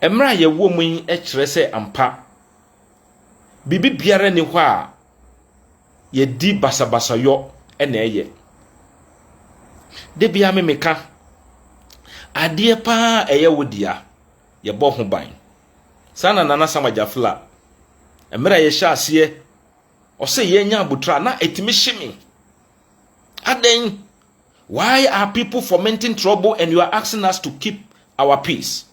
Mmere a yɛwɔ mu yi kyerɛ sɛ ampa, biribi biara nni hɔ a yɛde basabasayɔ na ɛyɛ. Da biara me meka, adeɛ paa a ɛyɛ wo dea, yɛbɔ ho ban. Saa na Nana Sama Gyafla, mmerɛ a yɛhyɛ aseɛ, ɔsɛ yɛnya abotra na ɛtumi hye me. Adɛn? Why are people fomenting trouble and you are asking us to keep our peace?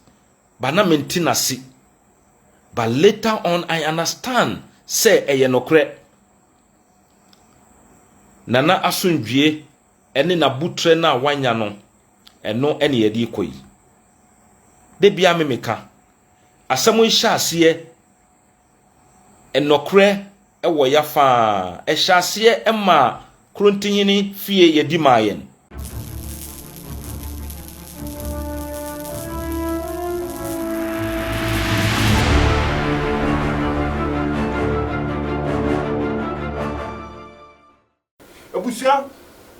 But na mente n'ase. But later on, I understand sɛ ɛyɛ nokorɛ. Nana asomdwie ne n'abutrɛ no a wanya no, ɛno na yɛde rekɔ yi. Da biara me meka, asɛm yi hyɛ aseɛ Nɔkorɛ wɔ ya faa. Ɛhyɛ aseɛ maa Krontinyini fie yɛdi maa yɛn. Abusua,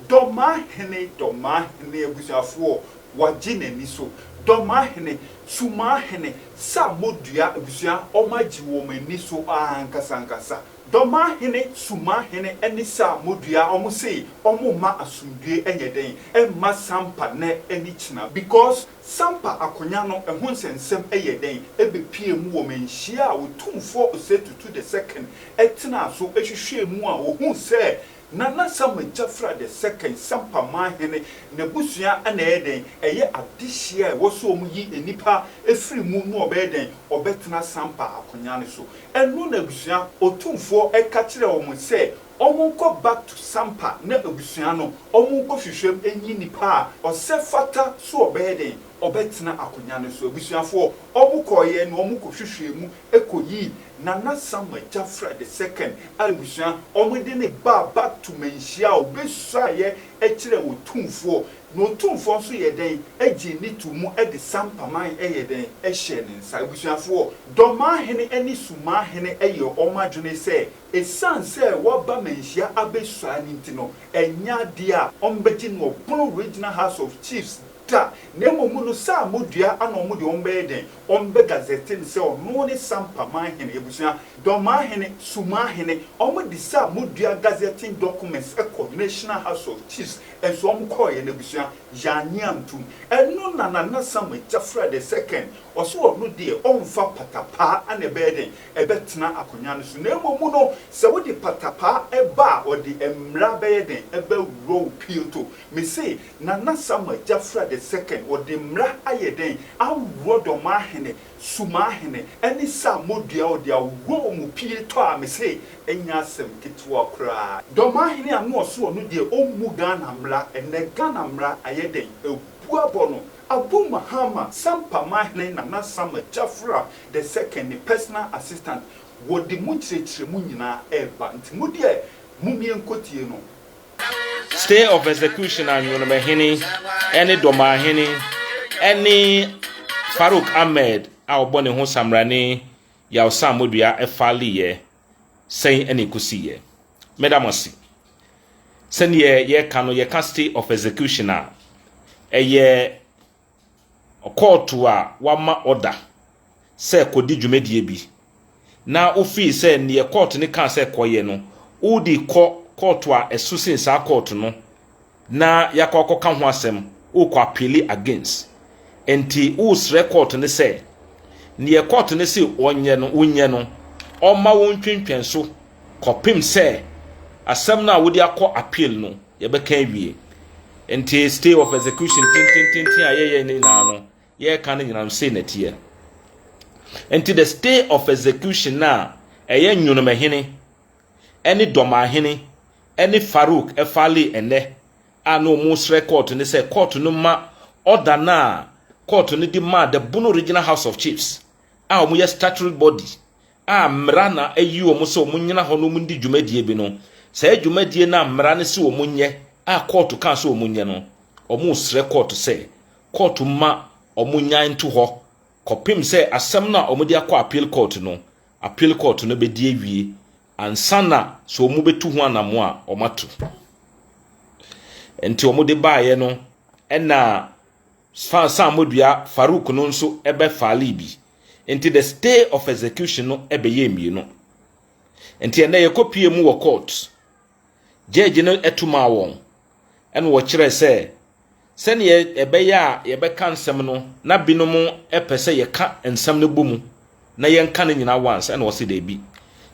Dɔmahene, Dɔmahene, abusuafoɔ, Wagye n'ani so, Dɔmahene, Sumahene, Sa modua, abusua, Wɔagye wɔn ani so ankasa ankasa, Dɔmahene, Sumahene, ne Sa modua, wɔse wɔmma asomdue nyɛ dɛn mma Sampa nnɛ ne kyena because Sampa akonya no ho nsɛnsɛm yɛ dɛn? Ebepue mu wɔ manhyia a Otumfoɔ Osei Tutu the Second tenaa so hwehwɛɛ mu a ohuu sɛ Nana Sam Agyafra the Second, Sampa man hene, n'abusua na ɛyɛ dɛn? Ɛyɛ adehyeɛ a ɛwɔ sɛ wɔyi nnipa firi mu na wɔbɛyɛ dɛn? Wɔbɛtena Sampa akonya no so. Ɛno na abusua Otumfoɔ ka kyerɛɛ wɔn sɛ Ɔmo nkɔ back to sampa na abusua no ɔmo nkɔ hwehwɛm nyi nipa a ɔsɛ fata so ɔbɛyɛ dɛn ɔbɛtena akonya no so abusuafoɔ ɔmo kɔɔyɛ no ɔmo kɔ hwehwɛɛ mu kɔ yii nana sam agyafra the second a abusua ɔmo de no baa back to manhyia a ɔbɛ suaeɛ ɛkyerɛ otumfoɔ na otumfoɔ nso yɛ dɛn ɛgyee ne too mu ɛde sampa man ɛyɛ dɛn ɛhyɛɛ ne nsa abusuafoɔ dɔmaa hene ɛne sumaa hene ɛyɛ ɔmo adwene sɛ Esiane sɛ waba manhyia abesua no nti no, ɛnyɛ ade a wɔbɛgye no ɔpono Regional House of Chiefs da, na mmom no saa modua ana wɔn de wɔn bɛyɛ dɛn? Wɔbɛ gazette no sɛ ɔno ne Sampa Manhene abusua, Dɔmahene, Sumahene. Wɔde saa modua gazetting documents kɔ National House of Chiefs nso wɔn kɔɔeɛ no abusua yɛannye antom. Ɛno na Nana Samuel Gyafra the second ɔse ɔno deɛ ɔmfa patapaa ana ɛbɛyɛ dɛn ɛbɛtena akonnwa no so, na mmom no, sɛ wode patapaa ba a, ɔde mmara bɛyɛ dɛn? Ɛbɛworɔ wo pioto. Mese, Nana Samuel Gyafra the Second, ɔde mmara ayɛ dɛn? Aworɔ Dɔmahene, Sumahene, ɛne Saamodua, ɔde aworɔ wɔn pioto a, mese, ɛnyɛ asɛm ketewa koraa. Dɔmahene a na ɔse ɔno deɛ ɔmmu Ghana mmara, ɛnnɛ Ghana mmara ayɛ dɛn? Abu abɔ no. Abu Mahama, Sampa Mahene Nana Samuel Gyafra The second, ne personal assistant, wɔde mo nkyerɛkyerɛmu nyinaa reba, nti mo deɛ momeɛ nkɔtie no. Stay of execution a Nwonomahene ne Domahene ne Farouk Ahmed a ɔbɔ ne ho Samrani Yaw Sam Modua faleeɛ sɛn na ɛkɔsiiɛ? Meda mo ase. Sɛdeɛ yɛka no, yɛka stay of execution a, ɛyɛ kɔɔto a wɔama ɔda sɛ kɔdi dwumadie bi na wofii sɛ neɛ kɔɔto no kaa sɛ kɔyɛ no, wode kɔ kɔɔto a ɛso sen saa kɔɔto no na yɛakɔ akɔka ho asɛm, wokɔ appeale against. Nti wosrɛ kɔɔto no sɛ neɛ kɔɔto no se ɔnyɛ no, wonyɛ no, ɔmma wo ntwentwɛn so kɔpem sɛ asɛm no a wode akɔ appeal no, yɛbɛka awie. Nti stay of execution tentententen a yɛyɛ ne nyinaa no, yɛreka no nyinaa no sei na ɛteɛ. Nti the stay of execution no a ɛyɛ nwonomahene ɛne dɔmahene ɛne Farouk ɛfale ɛnɛ a na wɔn srɛ kɔɔto ne sɛ kɔɔto no ma ɔda no a kɔɔto no de maa the Bono Regional House of Chiefs a wɔyɛ statutory body a mmara na ayi wɔn sɛ wɔnyina hɔ na wɔndi dwumadie bi no, saa dwumadie no a mmara no se wɔnyɛ a kɔɔto kaa sɛ wɔnyɛ no, wɔresrɛ kɔɔto sɛ kɔɔto mma wɔnyae nto hɔ kɔpem sɛ asɛm no a wɔde akɔ appeal court no, appeal court no bɛdi awie ansa na sɛ wɔbɛtu ho anamo a wɔato. Nti wɔde baeɛ no ɛna. Sfan san modua Farouk no nso bɛ faalii bi, nti the stay of execution no bɛyɛɛ mmienu. Nti ɛnnɛ yɛkɔ pue mu wɔ court, judge no tu maa wɔn, ɛna wɔkyerɛɛ sɛ sɛdeɛ ɛbɛyɛ a yɛbɛka nsɛm no na binom pɛ sɛ yɛka nsɛm no bɔ mu, na yɛnka ne nyinaa once ɛna ɔse daabi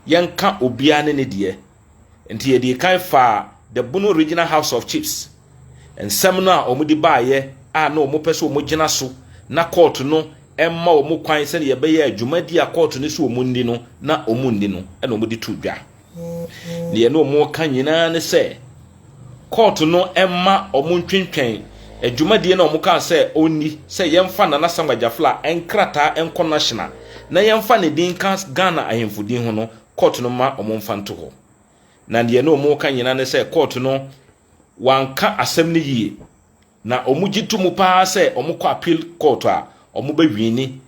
yɛnka obiara ne ne deɛ nti yɛde kan faa the bono regional house of chiefs nsɛm no a wɔn de baayɛ a na wɔn pɛ sɛ wɔn gyina so na court no ɛmma wɔn kwan sɛdeɛ yɛbɛyɛ a dwumadi a court no so wɔn nni no na wɔn nni no ɛna wɔn de to dwa. Deɛ na wɔreka nyinaa ne sɛ kɔɔto no mma wɔn ntwentwɛn adwumadie na wɔn kaa sɛ ɔnni sɛ yɛmfa Nana Samuel Gyafla nkrataa nkɔ National na yɛmfa ne din nka Ghana ahemfo din ho no kɔɔto no mma wɔn mfa nto hɔ. Na deɛ na wɔreka nyinaa ne sɛ kɔɔto no wanka asɛm no yie na wɔn gye to mu paa sɛ wɔn kɔ appeal kɔɔto a wɔn bɛ wiini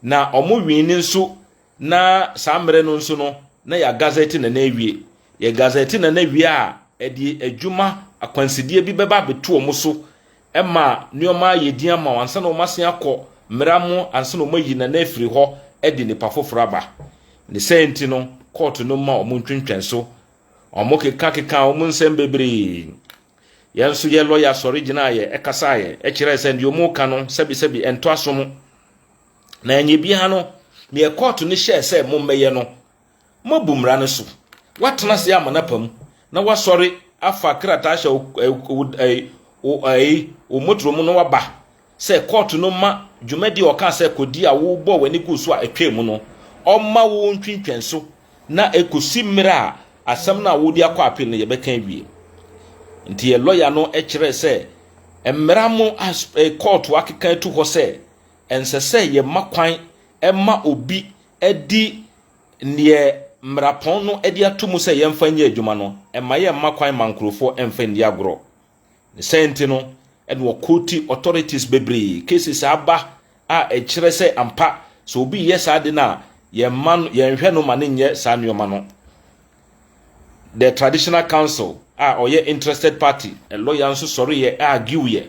na wɔn wiini nso Na saa mmerɛ no nso no, na yɛagazɛte na na awie. Yɛgazɛte na na awie a, ɛde adwuma akwansideɛ bi bɛba abɛto wɔn so ma nneɛma ayɛ din ama wɔn ansa na wɔn asen akɔ mmara mu ansa na wɔn ayi na na afiri hɔ de nnipa foforɔ aba. Ne saa nti no, kɔɔto no mma wɔn ntwentwɛn so. Wɔn kekakekaa wɔn nsɛm bebree. Yɛn nso yɛn lɔya sɔre gyinaaeɛ, ɛkasaaeɛ, ɛkyerɛɛ sɛ deɛ wɔn reka no sɛbesɛbe ɛntɔ asom. Na ɛnyɛ biara no, deɛ kɔɔto no hyɛɛ sɛ mommɛyɛ no, moabu mmara no so. Woatena ase ama no apa mu, na woasɔre afa krataa ahyɛ wo motorɔ mu na woaba sɛ kɔɔto no mma dwumadi a ɔkaa sɛ kɔdi a wobɔɔ w'ani guu so a ɛtwaa mu no, ɔmma wo ntwentwɛn so na ɛkɔsi mmerɛ a asɛm no a wode akɔ appeal no yɛbɛka awie. Nti yɛn lɔya no kyerɛɛ sɛ mmara mu a kɔɔto akeka atu hɔ sɛ Ɛnsɛ sɛ yɛma kwan ma obi di deɛ mmarapɔn no de ato mu sɛ yɛmfa nyɛ adwuma no. Ɛmma yɛmma kwan mma nkurɔfoɔ mfa nni agorɔ. Ne saa nti no, ɛna wɔkɔɔti authorities bebree. Cases a aba a ɛkyerɛ sɛ ampa sɛ obi reyɛ saa ade no a, yɛmma no, yɛnhwɛ no ma no nyɛ saa nneɛma no. The traditional council a ɔyɛ interested party, lɔya nso sɔreeɛ argueɛ.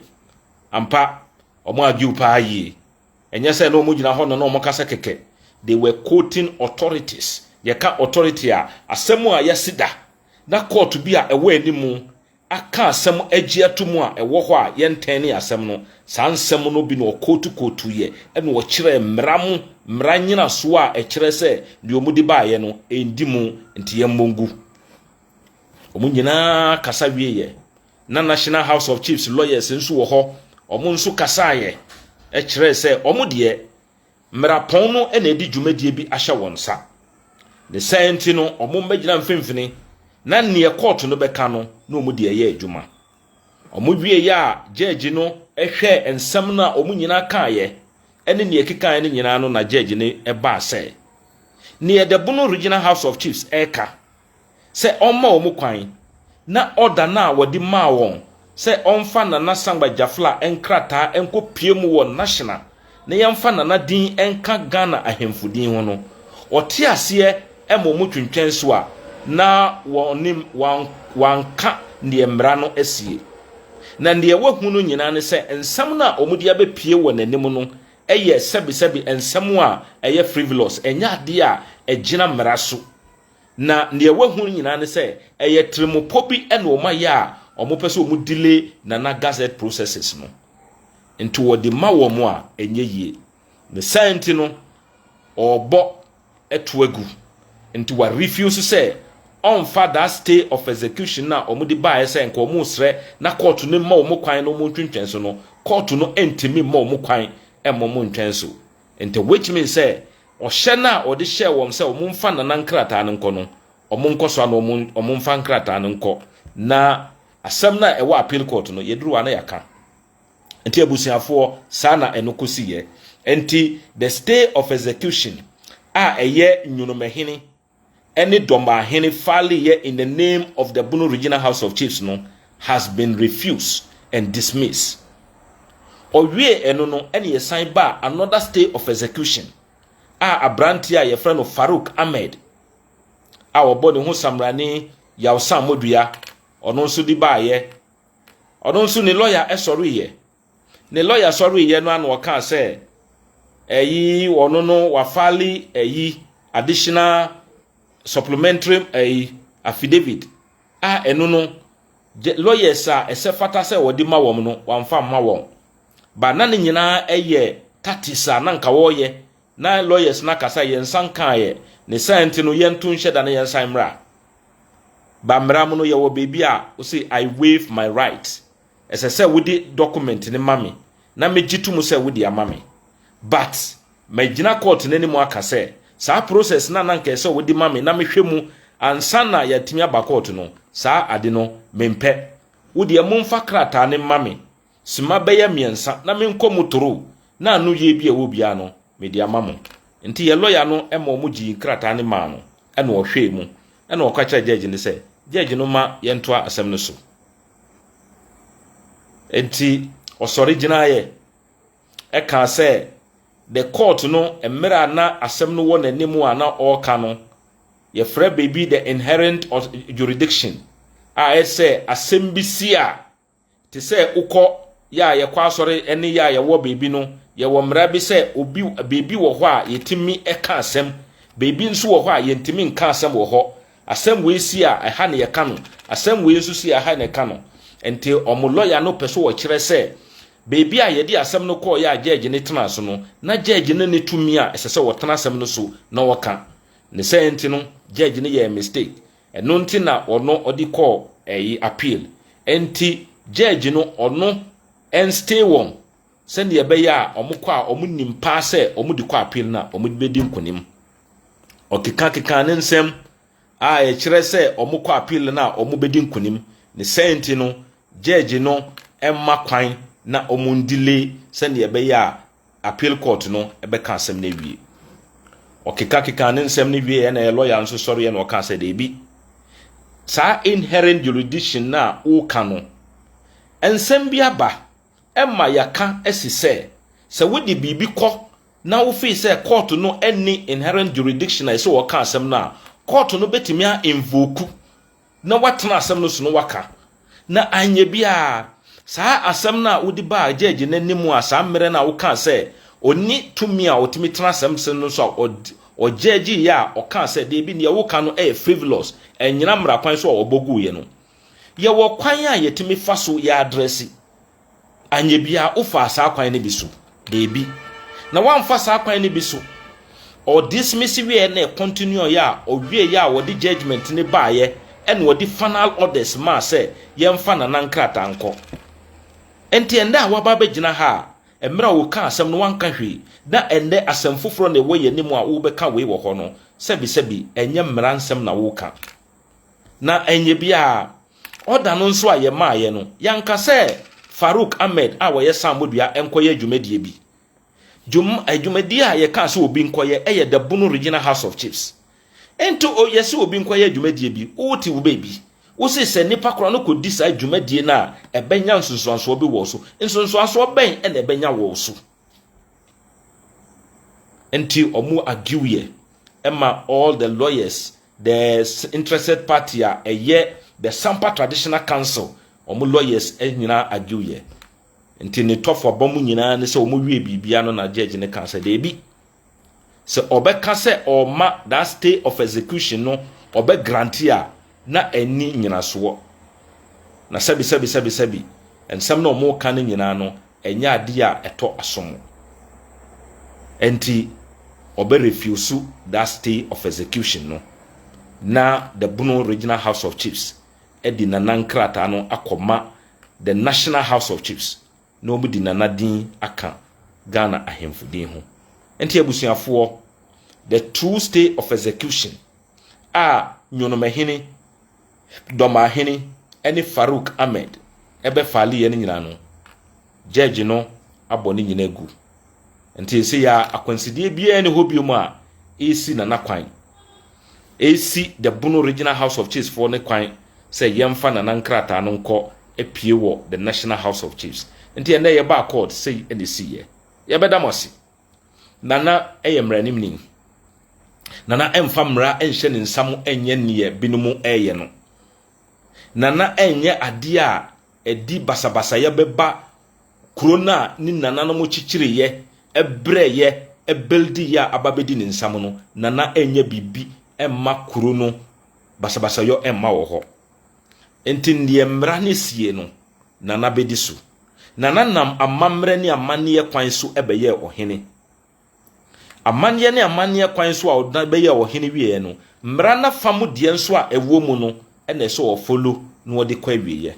Ampa, Wɔn argue paa yie. Ɛnyɛ sɛ na wɔn gyina hɔ no na wɔn kasa kɛkɛ. They were quoting authorities. Yɛka authority a, asɛm a yɛasi da na court bi a ɛwɔ anim aka asɛm agye ato mu a ɛwɔ hɔ a yɛntɛnee asɛm no, saa nsɛm no bi na wɔquote quoteeɛ ɛna wɔkyerɛɛ mmara mu mmara nnyinasoɔ a ɛkyerɛ sɛ deɛ wɔn de baeɛ no ɛndi mu nti yɛmmɔ ngu. Wɔn nyinaa kasa wieeɛ. na National House of Chiefs lawyers nso wɔ hɔ, wɔn nso kasaeɛ kyerɛɛ sɛ wɔn deɛ mmerapɔn no na ɛde dwumadie bi ahyɛ wɔn nsa. Ne saa nti no, wɔn mmɛgyina mfimfini na neɛ kɔɔto no bɛka no na wɔn de ɛyɛ adwuma. Wɔn wieeɛ a gyɛɛgye no hwɛɛ nsɛm no a wɔn nyinaa kaeɛ ɛne neɛ ɛkekaeɛ no nyinaa no na gyɛɛgye no baa sɛ, Neɛ Dɛbono Regional House of Chiefs ɛreka sɛ ɔmma wɔn kwan na ɔda no a wɔde maa wɔn sɛ ɔmfa Nana Sangba Jafla nkrataa nkɔpue mu wɔ National na yɛmfa Nana din nka Ghana ahemfo din ho no, ɔte aseɛ ma wɔn twentwɛn so a na wɔnim wanka deɛ mmara no asie. Na deɛ wahu no nyinaa ne sɛ nsɛm no a wɔde abɛpue wɔ n'anim no yɛ sɛbesɛbe nsɛm a ɛyɛ frivolous, ɛnyɛ adeɛ a ɛgyina mmara so. Na nea wɔahu no nyinaa ne sɛ ɛyɛ tirimpɔ bi na wɔayɛ a wɔpɛ sɛ wɔn delay Nana Gazette processes no. Nti wɔde ma wɔn a ɛnyɛ yie. Ne saa nti no ɔrebɔ to agu. Nti wa refuse sɛ ɔmfa that stay of execution no a wɔde baeɛ sɛ nka wɔresrɛ na kɔɔto no mma wɔn kwan na wɔntwentwɛn so no, kɔɔto no ntumi mma wɔn kwan mma wɔn ntwɛn so. Enti which means sɛ ɔhyɛ no a ɔde hyɛɛ wɔn sɛ wɔmfa Nana nkrataa no nkɔ no, wɔnkɔ so ara na wɔmfa nkrataa no nkɔ na asɛm no a ɛwɔ appeal court no, yɛduru hɔ a na yɛaka. Enti abusuafoɔ, saa na ɛno kɔsiiɛ. Enti the stay of execution a ɛyɛ Nwonomahene, ɛne Dɔmbaahene Faly yɛ in the name of the Bono Regional House of Chiefs no has been refused and dismissed. Ɔwiee ɛno no ɛne yɛsan baa another stay of execution a abranteɛ a yɛfrɛ no Farouk Ahmed a wɔbɔ ne ho Samrani Yawsan Modua ɔno nso de baayɛ. Ɔno nso ne lɔya ɛsɔreeɛ Ne lɔya sɔreeɛ no ara na ɔkaa sɛ ɛyi ɔno no wafale ɛyi additional supplementary ɛyi affidavit a ɛno no lawyers a ɛsɛ fata sɛ wɔde ma wɔn no wɔamfa mma wɔn ba na ne nyinaa ɛyɛ tatis a na nka wɔreyɛ na lawyers no akasa yɛn nsa nkaeɛ ne saa nti no yɛnto nhyɛ da na yɛn nsan mmra ba mmra mu no yɛwɔ baabi a wose I waive my right ɛsɛ sɛ wode document no ma me na megye to mu sɛ wode ama me. But magyina court no anim aka sɛ saa process no a na anka ɛsɛ sɛ wode ma me na mehwɛ mu ansa na yɛatumi aba court no, saa ade no mempɛ. Wo deɛ momfa krataa no mma me sima bɛyɛ mmiɛnsa na menkɔ mu toro na ano yie bi a ɛwɔ biara no mede ama mo. Nti yɛn lawyer no ma wɔgyee nkrataa no maa no na ɔhwɛɛ mu na ɔka kyerɛɛ judge no sɛ judge no mma yɛntoa asɛm no so. Enti ɔsɔre gyinaeɛ ɛkaa sɛ the court no mmerɛ a na asɛm no wɔ n'anim a na ɔreka no, yɛfrɛ biribi the inherent jurisdiction a ɛyɛ sɛ asɛm bi si a te sɛ wokɔ yɛ a yɛkɔ asɔre ne yɛ a yɛwɔ baabi no yɛwɔ mmara bi sɛ obi baabi wɔ hɔ a yɛtumi ɛka asɛm baabi nso wɔ hɔ a yɛntumi nka asɛm wɔ hɔ Asɛm wei si a, ɛha na yɛka no. Asɛm wei nso si a, ɛha na yɛka no. Enti wɔn lɔya no pɛ sɛ wɔkyerɛ sɛ baabi a yɛde asɛm no kɔeɛ a gyɛɛgye no tenaa so no, na gyɛɛgye no nni tumi a ɛsɛ sɛ ɔtena asɛm no so na ɔka. Ne saa nti no, gyɛɛgye no yɛɛ mistake. Ɛno nti na ɔno ɔde kɔɔ ɛyi appeal. Enti gyɛɛgye no ɔno ɛnstay wɔn sɛdeɛ ɛbɛyɛ a wɔkɔ a wɔnim paa sɛ wɔde kɔ appeal no a wɔbɛdi nkonim. Ɔkekakeka ne nsɛm a ɛkyerɛ sɛ wɔkɔ appeal no a wɔbɛdi nkonim. Ne sɛn nti no, judge no mma kwan na wɔn delay sɛdeɛ ɛbɛyɛ a appeal court no bɛka asɛm no awie. Ɔkekakeka ne nsɛm no wie na lawyer nso sɔreɛ na ɔka sɛ daabi. Saa inherent jurisdiction no a woka no, nsɛm bi aba ɛma yɛaka asi sɛ, sɛ wode biribi kɔ na wofii sɛ kɔɔto no nni inherent jurisdiction a ɛsɛ wɔka asɛm no a, kɔɔto no bɛtumi a invoke na watena asɛm no so na waka. Na anyɛ biara, saa asɛm no a wode baa gyɛɛgye no anim a saa mmerɛ no a wokaa sɛ ɔnni tumi a ɔtumi tena asɛm so no so a ɔgyɛɛgyeeɛ a ɔkaa sɛ, dabi, deɛ woka no yɛ frivolous, ɛnnyina mmara kwan so a wɔbɔ guiɛ no, Yɛwɔ kwan a yɛtumi fa so yɛ adrɛse. Anyɛ biara wofaa saa kwan no bi so? Daabi. Na woamfa saa kwan no bi so. Ɔdismisi wieɛ na ɛcontinue ɔyɛ a ɔwieɛ a wɔde judgment no baeɛ ɛna ɔde final orders maa sɛ yɛmfa nana nkrataa nkɔ. Nti ɛndɛ a woaba abɛgyina ha a mmerɛ a wokaa asɛm no woanka hwee na ɛndɛ asɛm foforɔ na ɛwɔ yɛn anim a wobɛka wei wɔ hɔ no sɛbisɛbi ɛnyɛ mmara nsɛm na woka. Na ɛnyɛ biara, ɔda no nso a yɛmaaeɛ no, yɛanka sɛ Farouk Ahmed a ɔyɛ Saamodua nkɔyɛ dwumadie bi. Dwum, adwumadie a yɛkaa sɛ obi nkɔyɛ yɛ Dabuno Regional House of Chiefs. Nti o, yɛse obi nkɔyɛ adwumadie bi, wote wo baabi, wose sɛ nnipa korɔ no kɔdi saa dwumadie no a, ɛbɛnya nsunsuansoɔ bi wɔ wo so. Nsunsuansoɔ bɛn na ɛbɛnya wɔ wo so? Nti ɔmo agiw yɛ ɛma all the lawyers the interested party a ɛyɛ the sampa traditional council ɔmo lawyers nyinaa agiw yɛ nti ne tɔfo aba mu nyinaa ne sɛ ɔmo wie biribia no na judge ne kan sɛ deebi Sɛ ɔbɛka sɛ ɔrema that stay of execution no ɔbɛ grante a, na ɛnni nnyinasoɔ. Na sɛbi sɛbi sɛbi sɛbi, nsɛm no a wɔreka no nyinaa no, ɛnyɛ adeɛ a ɛtɔ asom. Ɛnti, ɔbɛ refuse that stay of execution no, na the Bono Regional House of Chiefs de Nana nkrataa no akɔma the National House of Chiefs. na wɔn de Nana din aka Ghana ahemfo din ho. Nti abusuafoɔ, the true stay of execution a Nyonomahene, Dɔmahene ɛne Farouk Ahmed ɛbɛ file yɛ no nyinaa no, Judge no abɔ ne nyinaa agu. Nti nse ya akwansideɛ biara ne hɔ biom a ɛresi Nana kwan. Ɛresi the Bono Regional House of Chiefs foɔ ne kwan sɛ yɛmfa Nana nkrataa no nkɔ apue wɔ the National House of Chiefs. Nti ɛnɛ yɛbaa court sei ɛna ɛsiiɛ. Yɛbɛda mo ase. Nana ɛyɛ mmaranimni. Nana ɛmfa mmara ɛnhyɛ ne nsa mu ɛnyɛ neɛ binom ɛyɛ no. Nana ɛnyɛ adeɛ a ɛde basabasayɛ bɛba kuro no a ne nananom kyekyereeɛ, brɛeɛ, buildiiɛ a aba abɛdi ne nsam no, Nana ɛnyɛ biribi mma kuro no, basabasayɔ mma wɔ hɔ. Nti deɛ mmara no sie no, Nana bɛdi so. Nana nam amammerɛ ne amanneɛ kwan so bɛyɛɛ ɔhene. Amanneɛ ne amanneɛ kwan so a ɔda bɛyɛɛ ɔhene wieɛ no, mmara no afa mu deɛ nso a ɛwɔ mu no na ɛsɛ ɔfollow na ɔde kɔ awieɛ.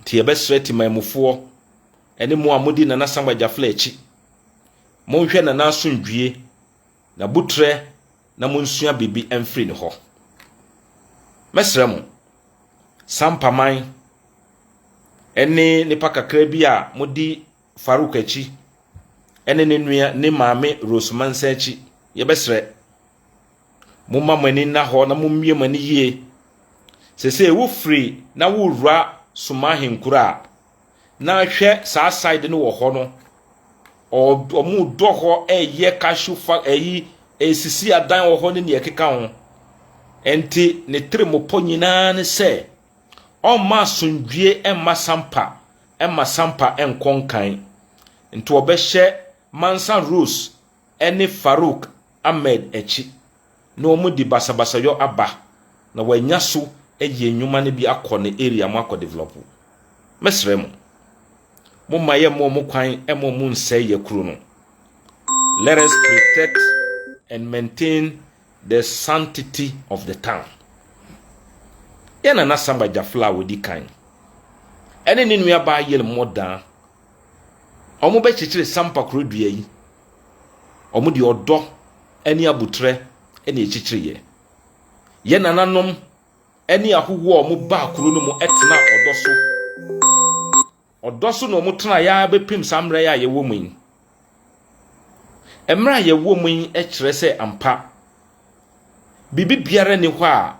Nti yɛbɛsrɛ Temanmufoɔ ne mo a modi Nana Samuel Gyafla akyi, monhwɛ Nana asomdwie, n'abutrɛ na monsua biribi mfiri ne hɔ. Mɛsrɛ mo, Sampaman ne nnipa kakra bi a modi Farouk akyi ɛne ne nua ne maame Rose Mansa akyi, yɛbɛsrɛ momma mo ani nna hɔ na mommie mo ani yie. Sesei wofiri na wowura Soma ahenkuro a, na hwɛ saa side no wɔ hɔ no, wɔn dɔ hɔ ɛyɛ cashew fa ɛyi ɛsisi adan wɔ hɔ ne nea ɛkeka ho. Ɛnti ne tiri mo pɔ nyinaa ne sɛ ɔmma asomdwie ɛmma sampa mma Sampa nkɔ nkan nti wɔbɛhyɛ Mansa Rose ne Farouk Ahmed akyi na wɔde basabasayɔ aba na wɔanya so ayi nnwuma no bi akɔ ne area mu akɔ develop. Mɛsrɛ mo, momma yɛmma wɔn kwan mma wɔnsɛe yɛn kuro no. Let us protect and maintain The Sanctity of the Town. Yɛn nana Samba Gyafla a ɔdi kan ne ne nuabaa Yel Mmɔdaa wɔbɛkyekyere Sampa kuro dua yi. Wɔde ɔdɔ ne aboterɛ na ɛkyekyereeɛ. Yɛn nananom ne ahohoɔ a wɔbaa kuro no mu tenaa ɔdɔ so. Ɔdɔ so na wɔtrae ara bɛpem saa mmerɛ yi a yɛwɔ mu yi. Mmerɛ a yɛwɔ mu yi kyerɛ sɛ ampa, biribi biara nni hɔ a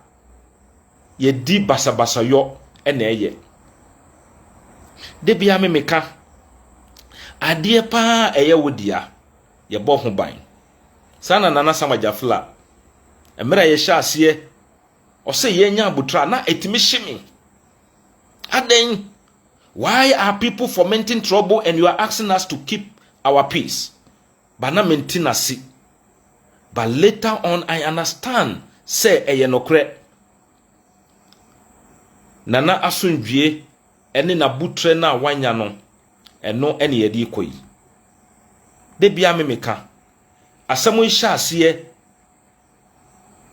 yɛdi basabasayɔ na ɛyɛ. Da biara me meka, adeɛ pa ara a ɛyɛ wo dea, yɛbɔ ho ban. Saa na Nana Sam Agyafla, mmerɛ a yɛhyɛ aseɛ, Ɔsɛ yɛnya abotire a na ɛtumi hye me. Adɛn? Why are people fomenting trouble and you are asking us to keep our peace? But na mente no ase. But later on I understand sɛ ɛyɛ nokorɛ. Nana asomdwie ne n'abotrɛ no a wanya no, ɛno na yɛde rekɔ yi. Da biara me meka. Asɛm yi hyɛ aseɛ.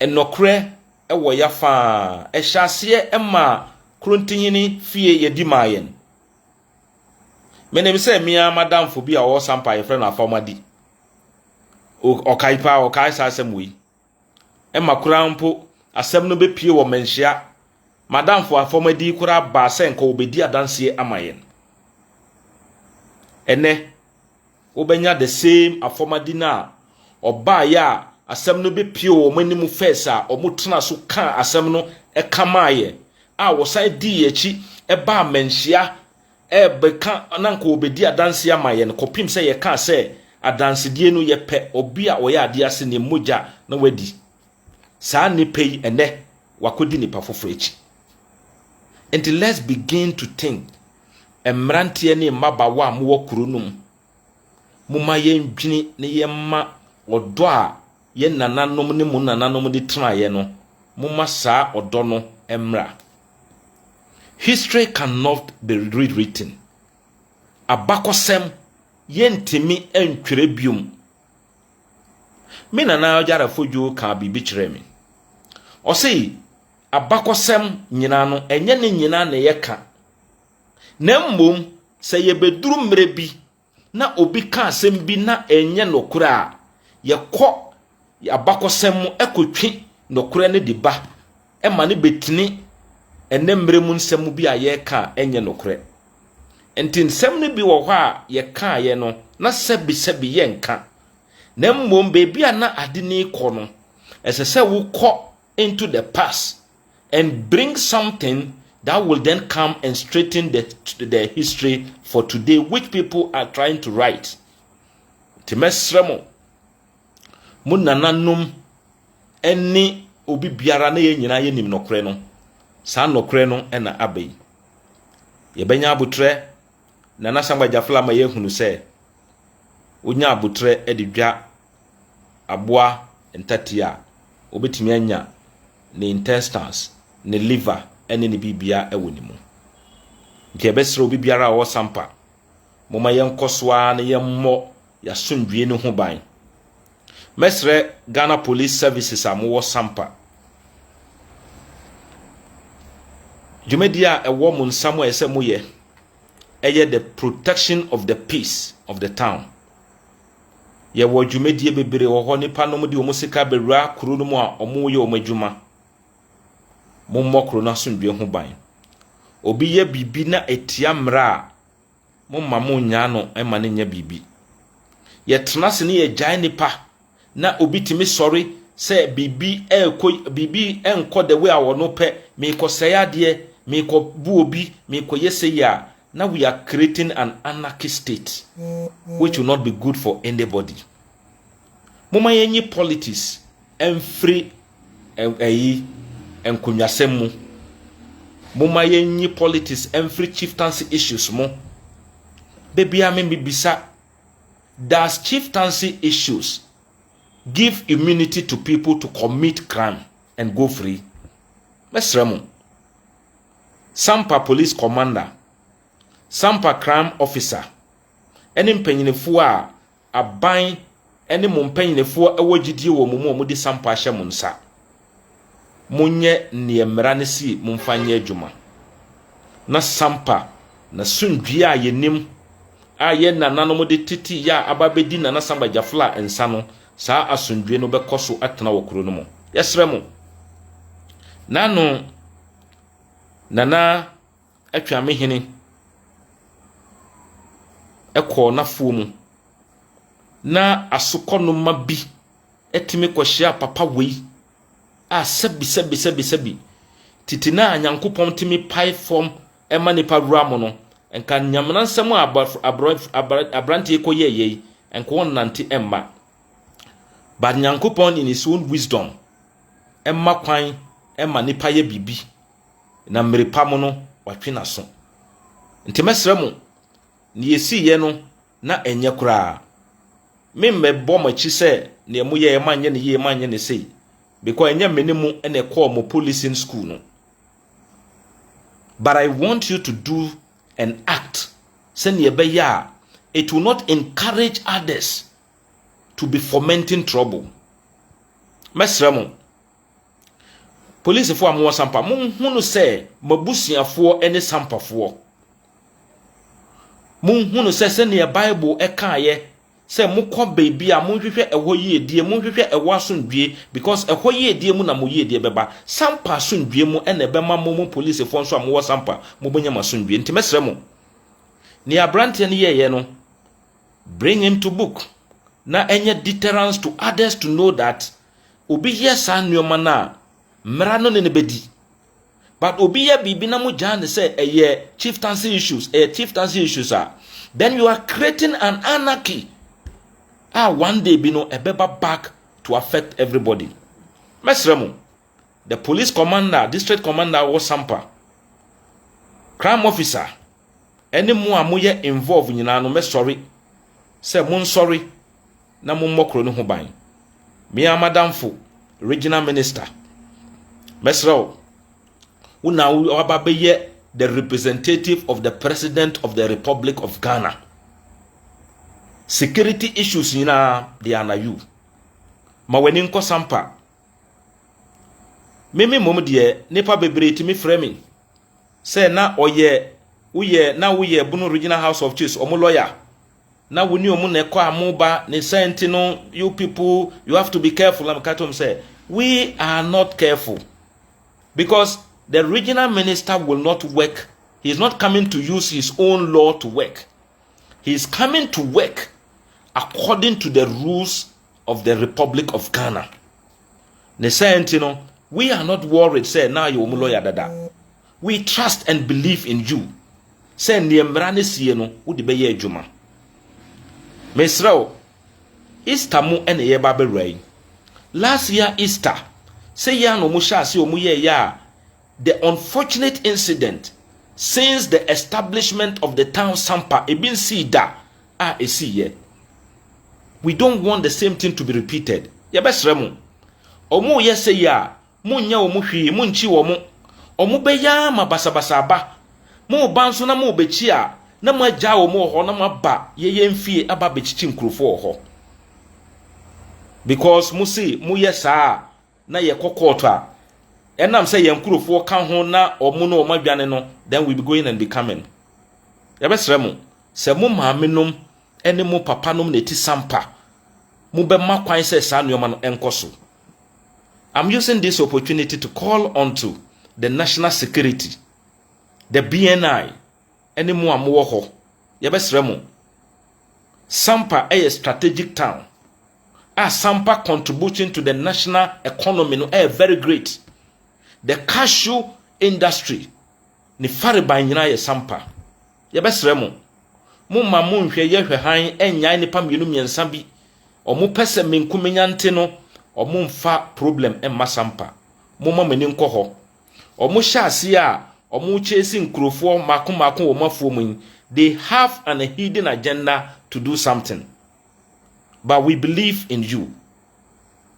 Nɔkorɛ wɔ ya faa. Ɛhyɛ aseɛ ɛmaa Krontihene fie yɛdi maa yɛn. Menim sɛ me ara m'adamfo bi a ɔwɔ Sampa a yɛfrɛ no Afawmadi, ɔkae paa, ɔkae saa asɛm wei. Ɛma koraa mpo asɛm no bɛpie wɔ Manhyia. M'adamfo Afawmadi koraa baa sɛ nka ɔbɛdi adanseɛ ama yɛn. Ɛnɛ, Wobɛnya the same afɔmadi no a ɔbaeɛ a asɛm no bɛpue wɔn anim first a wɔtena so kaa asɛm no ka maaeɛ a wɔsan dii akyi baa manhyia rebɛka na nka wɔbɛdi adanseɛ ama yɛn kɔpem sɛ yɛkaa sɛ adansedie no yɛpɛ obi a ɔyɛ adeɛ ase ne mogya na wadi saa nnipa yi ɛnɛ wakɔdi nnipa foforɔ akyi nti let's begin to think Mmeranteɛ ne mmabaawa a mowɔ kuro no mu, momma yɛndwene na yɛmma ɔdɔ a yɛn nananom ne mo nananom de tenaeɛ no, momma saa ɔdɔ no mmra. History cannot be rewritten. Abakɔsɛm yɛntumi ntwerɛ biom. Me nana Ɔgyarafo Dwo kaa biribi kyerɛɛ me. Ɔse abakɔsɛm nyinaa no, ɛnyɛ ne nyinaa na yɛka. Na mmom, sɛ yɛbɛduru mmerɛ bi na obi ka asɛm bi na ɛnyɛ nokorɛ a, yɛkɔ abakɔsɛm mu kɔtwe nokorɛ no de ba ma no bɛtini ɛnɛ mmerɛ mu nsɛm bi a yɛreka a ɛnyɛ nokorɛ. Nti nsɛm no bi wɔ hɔ a yɛkaeɛ no, na sɛbisɛbi yɛnka. Na mmom, baabi a na ade no rekɔ no, ɛsɛ sɛ wokɔ into the past and bring something that will then come and straighten the, the history for today, which people are trying to write. Timesremo, Munananum, any obi biara na yɛn nyinaa yɛnim nɔkorɛ no saa nɔkorɛ no ɛna aba yi yɛbɛnya abotrɛ na nasangba gyafla ma yɛahunu sɛ wonya abotrɛ de dwa aboa ntatia a, obetumi anya ne intestines, ne liver ne ne biribiara wɔ ne mu. Nti yɛbɛsrɛ obi biara a ɔwɔ sampa, momma yɛnkɔ so ara na yɛmmɔ yɛasomdwie no ho ban. Mɛsrɛ Ghana Police Services a mowɔ sampa, dwumadi a ɛwɔ mo nsa mu a ɛsɛ moyɛ ɛyɛ the protection of the peace of the town. Yɛwɔ dwumadie bebree wɔ hɔ, nnipa nom de wɔn sika bɛwura kuro no mu a wɔyɛ wɔn adwuma. Mommɔ kuro no asomdwoeɛ ho ban. Obi yɛ biribi na ɛtia mmara a, momma monnyaa no mma no nyɛ biribi. Yɛtena ase ne yɛgyae nnipa na obi tumi sɔre sɛ biribi ɛrekɔ biribi nkɔ the way a wɔn pɛ, merekɔsɛe adeɛ, merekɔbu obi, merekɔyɛ sɛ yi a, Now we are creating an anarchist state which will not be good for anybody. Momma yɛnyi politics mfiri ɛyi nkonnwasɛm mu. Momma yɛnyi politics mfiri chieftaincy issues mu. Da biara me mebisa, does chieftaincy issues give immunity to people to commit crime and go free? Mɛsrɛ mo. Sampa Police Commander, Sampa Crime Officer ne mpanyinifoɔ a aban ne mo mpanyinifoɔ wɔ gyidie wɔ mo mu a wɔde sampa ahyɛ mo nsa. Monyɛ neɛ mmara no si momfa nyɛ adwuma. Na sampa na sumdwie a yɛnim a yɛn nananom de tete yɛ a aba bɛdi Nana Samba Jafla nsa no, saa asomdwie no bɛkɔ so atena wɔ kuro no mu. Yɛsrɛ mo. Nano. Nana Atwamehene kɔɔ n'afoɔ mu, na asokɔnoma bi tumi kɔhyia papa wei a sɛbisɛbisɛbi, tete no a Nyankopɔn tumi pae fam ma nnipa wura mu no, nka Nyamena nsɛm a abɔfra aborɔ abra aberanteɛ yi kɔyɛeɛ yi, nka ɔrennante mma. But Nyankopɔn in his own wisdom, mma kwan mma nipa yɛ biribi, na mmere pa mu no, watwe n'aso. Nti mɛsrɛ mo, nea esiiɛ no, na ɛnyɛ koraa. Memmɛbɔ mo akyi sɛ nea moyɛeɛ manyɛ no yie, manyɛ no sei, because ɛnyɛ me ne mo na ɛkɔɔ mo policing school no. But I want you to do and act sɛnea ɛbɛyɛ a it will not encourage others to be fomenting trouble mɛsrɛ mo policefoɔ a mowɔ sampa monhunu sɛ mabusuafoɔ ne sampafoɔ monhunu sɛ sɛdeɛ bible ɛkaeɛ sɛ mokɔ baabi a monhwehwɛ ɛhɔ yiedie monhwehwɛ ɛhɔ asomdwie because ɛhɔ yiedie mu na mo yiedie bɛba sampa asomdwie mu ɛna ɛbɛma mo mo policefoɔ nso a mowɔ sampa mobɛnya mo asomdwie nti mɛsrɛ mo nea aberanteɛ no yɛeɛ no Bring him to book na ɛnyɛ deterrence to others to know that obi yɛ saa nneɛma no a, mmara no ne no bɛdi. But obi yɛ biribi na mo gyaa no sɛ ɛyɛ chieftaincy issues, ɛyɛ chieftaincy issues a, then you are creating an anarchy a one day bi no ɛbɛba back to affect everybody. Mɛsrɛ mo, the police commander district commander wɔ sampa crime officer ɛne mu a moyɛ involve nyinaa no mɛsɔre sɛ monsɔre na mommɔ kuro no ho ban mea madamfo regional minister mɛsrɛ wo wo na waba bɛyɛ the representative of the president of the republic of ghana security issues nyinaa they are na you ma w'ani nkɔ sampa Me me mmom deɛ, nnipa bebree tumi frɛ me sɛ na ɔyɛ woyɛ na woyɛ Bono Regional House of Chiefs wɔn lɔya na wo ne wɔn na ɛkɔ a mo ba ne sɛ nti no you people you have to be careful na meka kyerɛ sɛ we are not careful because the regional minister will not work he is not coming to use his own law to work he is coming to work according to the rules of the republic of ghana ne sɛ nti no we are not worried sɛ na ayɛ wɔn lawyer dada we trust and believe in you sɛ nneɛ mmara no sie no wode bɛyɛ adwuma mesrɛ wo easter mu na ɛyɛ ba bɛwura yi last year easter sɛ yɛ a na wɔn hyɛ ase wɔn yɛ yɛ a the unfortunate incident since the establishment of the town sampa ebi nsii da a ɛsii yɛ. We don't want the same thing to be repeated. Yɛbɛsrɛ mo, wɔn reyɛ sɛ yi a, monnyɛ wɔn hwee, monkyi wɔn. Wɔn bɛ yi ara ma basabasa aba. Moreba nso na morebɛkyi a, na moagyaa wɔn wɔ hɔ na moaba yɛyɛ mfie aba abɛkyikyi nkurɔfoɔ wɔ hɔ. Because mose moyɛ saa a, na yɛkɔ court a ɛnam sɛ yɛn nkurofoɔ ka ho na ɔmo na ɔmo adwane no then we be going and be coming yɛbɛsrɛ mo sɛ mo maame nom ɛne mo papa nom na ɛti sampa mo bɛma kwan sɛ saa nnoɔma no ɛnkɔ so I'm using this opportunity to call onto the national security the BNI ne mo a mowɔ hɔ, yɛbɛsrɛ mo, Sampa yɛ strategic town a Sampa contribution to the national economy no yɛ very great. The cashew industry ne fariban nyinaa yɛ Sampa. Yɛbɛsrɛ mo, mo ma mo nhwɛ yɛ hwɛ hann nnyae nipa mmienu mmiɛnsa bi. Ɔmo pɛ sɛ menkumenya nte no, ɔmo mfa problem mma Sampa. Momma mo ani nkɔ hɔ. Ɔmo hyɛ aseɛ a ɔmo chase nkurofoɔ mako mako wɔ ɔmo afuo mu yi, they have an a hidden agenda to do something. But we believe in you.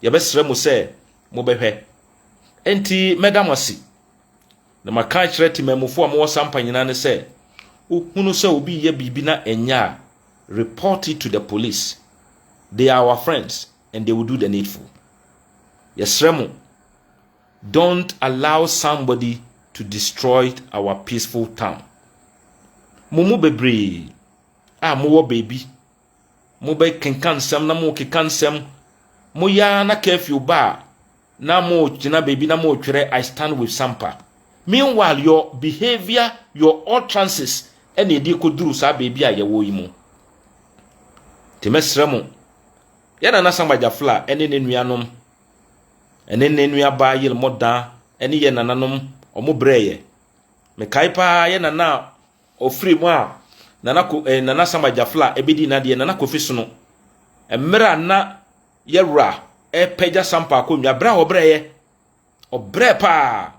Yɛbɛsrɛ mo sɛ mobɛhwɛ. Enti mɛda mo ase. Na maka akyerɛ temammufoɔ a mowɔ sampa nyinaa ne sɛ, wohunu sɛ obi reyɛ biribi na ɛnyɛ a, report it to the police. They are our friends and they will do the needful. Yɛsrɛ mo. Don't allow somebody to destroy our peaceful town. Mo mu bebree a mowɔ baabi, mobɛkenka nsɛm na mokeka nsɛm. Moyɛ ara na curfew ba a, na mogyina baabi na motwerɛ I stand with Sampa. Meanwhile, your behavior, your utterances ɛna ɛde kɔduru saa baabi a yɛwɔ yi mu. Nti mɛsrɛ mo, yɛn nana Samba Gyafla ne ne nuanom Ɛne ne nuabaa yer mo da ne yɛ nananom ɔmo brɛ yɛ. Me kae paa yɛ nana a ɔfiri mu a nana ko eh, nana Sam Agyafla ɛbɛdi n'adeɛ nana Kofi Sono. Mmerɛ a na yɛ wura ɛpɛgya Sampa akonnwa berɛ a ɔbrɛ yɛ. Ɔbrɛ paa.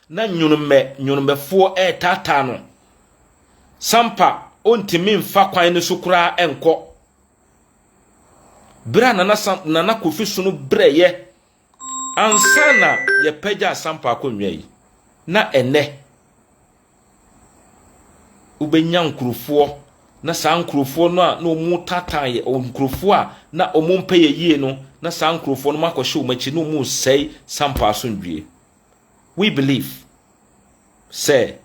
Na nnwonmɛ nnwonmɛfoɔ retaataa no. Sampa ɔntumi mfa kwan no so koraa nkɔ. Berɛ a Nana, Sam, Nana Kofi sono brɛeɛ ansa na yɛpagyaa Sampa akonnwa yi, na ɛnɛ wobɛnya nkurɔfoɔ na saa nkurɔfoɔ no a na wɔn taataa yɛ nkurɔfoɔ a na wɔn mpɛ yɛ yie no na saa nkurɔfoɔ no akɔhyɛ wɔn akyi na wɔn resɛe Sampa asomdwie. We believe sɛ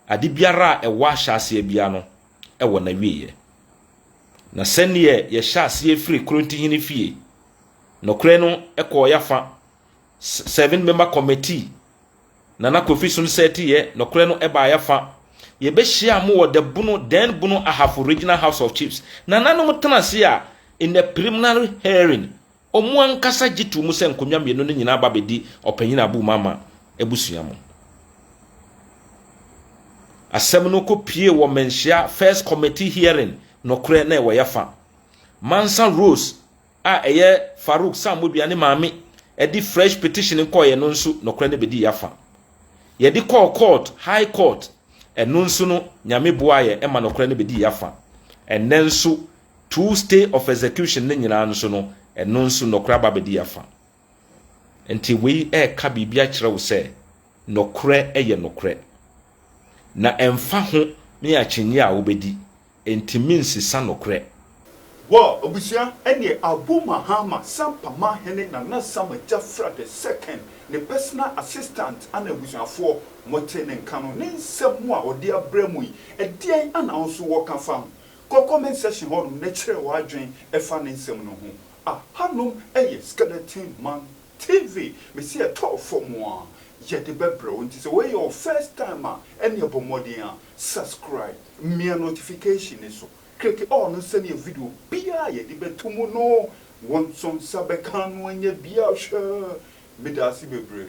ade biara a ɛwɔ ahyɛaseɛ biara no wɔ n'awieɛ. Na sɛdeɛ yɛhyɛ aseɛ firi Korontihene fie, nokorɛ no kɔɔ yɛafa, seven member committee, Nana Kofi Som sɛteeɛ, nokorɛ no baa yɛafa. Yɛbɛhyia mo wɔ the Bono, then Bono Ahafo Regional House of Chiefs. Nananom tena ase a, in a preliminary hearing, Wɔn ankasa gye too mu sɛ nkonnwa mmienu no nyinaa ba bedi Ɔpanyin Abu Umama abusua mu. Asɛm no kɔ pue wɔ Manhyia First Committee hearing nokorɛ na ɛwɔ yɛfa. Mansa Rose a ɛyɛ Farouk Sammodua ne maame de fresh petition kɔeɛ no nso nokorɛ no bɛdii yɛafa. Yɛde kɔɔ court, High Court, ɛno nso no Nyame boaeɛ ma nokorɛ no bɛdii yɛafa. Ɛnnɛ nso Tuu stay of execution no nyinaa nso no, ɛno nso nɔkorɛ aba abɛdi afa. Nti wei reka biribi akyerɛ wo sɛ nɔkorɛ yɛ nɔkorɛ. Na ɛmfa ho ne akyinnye a wobɛdi, ɛntumi nsesa nɔkorɛ. Wɔ abusua ɛneɛ Abu Mahama Sampama Hene Nana Sama Jafra the second ne personal assistant ana abusuafoɔ mote ne nka no ne nsɛm a ɔde abrɛ mo yi ɛdeɛn ana wo nso wɔka fa ho? Kɔ comment section hɔ nom na kyerɛ w'adwen fa ne nsɛm no ho. Aha nom yɛ Skeleton Man TV, mese ɛtɔɔ fɔm a yɛde bɛbrɛ wo nti sɛ wei yɛ wo first time a ɛneɛ bɔ mmɔden a subscribe, mia notification no so, click all no sɛneɛ video biaa a yɛde bɛto mu no wo nso nsa bɛka ano anya bi ahwɛ. Medaase bebree.